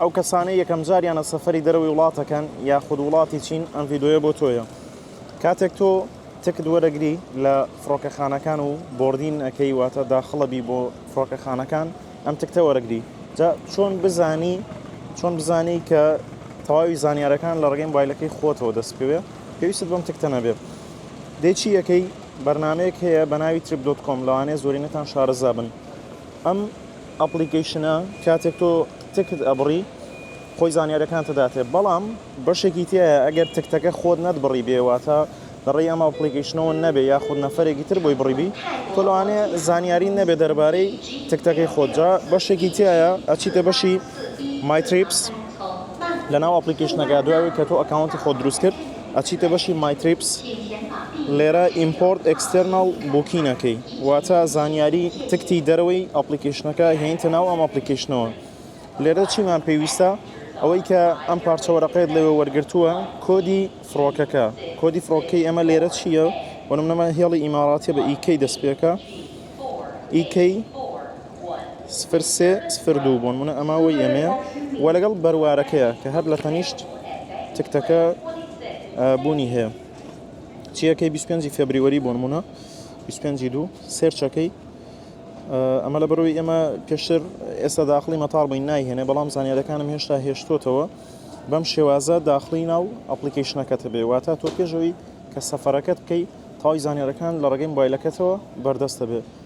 ئەو کەسانەی یەکەم جاریانە سەفەری دەرەوەی وڵاتەکەن یاخود وڵاتی چین ئەم ڤیدۆیە بۆ تۆیە کاتێک تۆ تکت وەرەگری لە فڕۆکەخانەکان و بردین ئەەکەی واتە داخڵەبی بۆ فڕۆکەخانەکان ئەم تکتە وەرەگری جا چۆن بزانی چۆن بزانی کە تەواوی زانیارەکان لە ڕگەی بایلەکەی خۆتەوە دەست بکەوێت پێویست بەم تکتە نەبێت دێکی یەکەی بەرنمەیەک هەیە بە ناوی تریپ دۆت کۆم لەوانەیە زۆرینەتان شارەزابن ئەم ئەپڵیکەیشنە کاتێک تۆ تکت ئەبڕی خۆی زانیارەکانتە داتێ بەڵام بەشێکی تایە ئەگەر تکتەکە خۆت نەتبڕی بێ واتە لەڕێی ئەمە ئەپڵیکەیشنەوە نەبێ یاخود نەفرێکی تر بۆی بڕیبی تۆ لەوانەیە زانیاری نەبێ دەربارەی تکتەکەی خۆت جا بەشێکی تایە ئەچیتە بەشی مایتریپس لە ناو ئەپلیکیشنەکە دوای کە تۆ ئەکاونتی خۆ دروست کرد ئەچیتە بەشی مای تریپس لێرە ئیمپۆرت ئێکستێرناڵ بوکین ئەکەی واتە زانیاری تکتی دەرەوەی ئەپڵیکەیشنەکە هێنیتە ناو ئەم ئەپڵیکەیشنەوە لێرە چیمان پێویستە ئەوەی کە ئەم پارچە وەرەقەیەت لەوێ وەرگرتووە کۆدی فڕۆکەکە کۆدی فڕۆکەی ئەمە لێرە چییە وەنمنەمە هێڵی ئیماڕاتیە بە ئیکەی دەست پێکە ئیکەی سفر سێ سفر دوو بۆ نمونە ئەمە وەی ئەمەیە و لەگەڵ بەروارەکەیە کە هەر لە تەنیشت تکتەکە بوونی هەیە چیەکەی 25 فبریوەری بۆ نمونە 25 دوو سێرچەکەی ئەمە لە بەرەوەی ئێمە پێشتر ئێستا داخلی مەتاڵ بووین نایهێنێ بەڵام زانانیەکانم هێشتا هێشتوتەوە بەم شێوازە داخلی ناو ئەپلیکیشنەکەت بێ واتە تۆ پێشەوەی کە سەفەرەکەت بکەی تاوی زانانیەکان لە ڕگەی بایلەکەتەوە بەردەستە بێ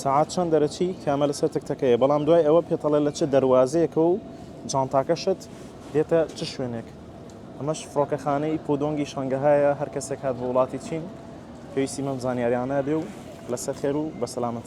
سەعات چەند دەرەچی؟ کامە لەسەر تەک تەکەیە بەڵام دوای ئەوە پێتەڵێ لە چ دەروازەیەکە و جانتاکەشت دێتە چ شوێنێک؟ ئەمەش فڕۆکەخانەی پودۆنگی شەنگەهایە هەر کەسێک هات بۆ وڵاتی چین پێویستی بەم زانیاریانە بێ و لەسەر خێر و بەسەلامەتی.